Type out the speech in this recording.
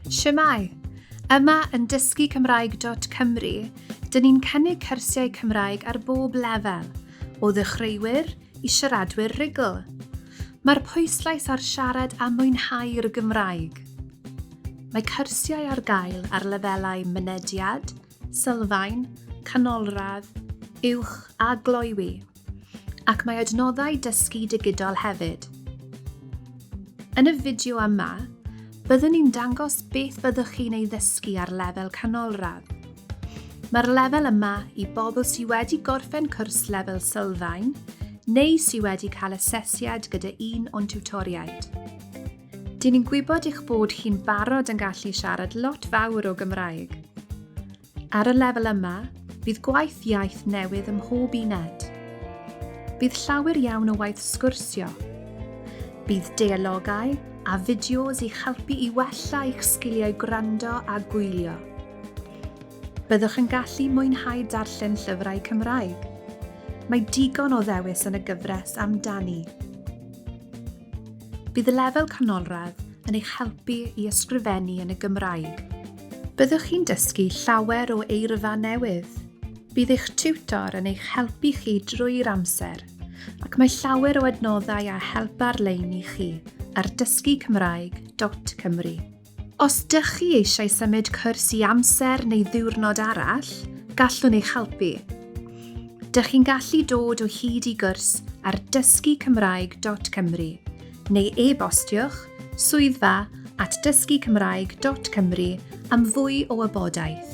Siamai! Yma yn dysgu Cymraeg.cymru, dyn ni'n cynnig cyrsiau Cymraeg ar bob lefel, o ddechreuwyr i siaradwyr rhugl. Mae'r pwyslais ar siarad a mwynhau'r Gymraeg. Mae cyrsiau ar gael ar lefelau mynediad, sylfaen, canolradd, uwch a gloywi, ac mae adnoddau dysgu digidol hefyd. Yn y fideo yma, byddwn ni'n dangos beth fyddwch chi'n ei ddysgu ar lefel canolradd. Mae'r lefel yma i bobl sydd wedi gorffen cwrs lefel sylfaen neu sydd wedi cael asesiad gyda un o'n tiwtoriaid. Dyn ni'n gwybod eich bod chi'n barod yn gallu siarad lot fawr o Gymraeg. Ar y lefel yma, bydd gwaith iaith newydd ym mhob uned. Bydd llawer iawn o waith sgwrsio. Bydd deologau a fideos i'ch helpu i wella eich sgiliau gwrando a gwylio. Byddwch yn gallu mwynhau darllen llyfrau Cymraeg. Mae digon o ddewis yn y gyfres amdani. Bydd y lefel canolradd yn eich helpu i ysgrifennu yn y Gymraeg. Byddwch chi'n dysgu llawer o eirfa newydd. Bydd eich tiwtor yn eich helpu chi drwy'r amser, ac mae llawer o adnoddau a help ar-lein i chi ar dysgucymraeg.cymru. Os dych chi eisiau symud cwrs i amser neu ddiwrnod arall, gallwn eich helpu. Dych chi'n gallu dod o hyd i gwrs ar dysgucymraeg.cymru neu e-bostiwch swyddfa at dysgucymraeg.cymru am fwy o wybodaeth.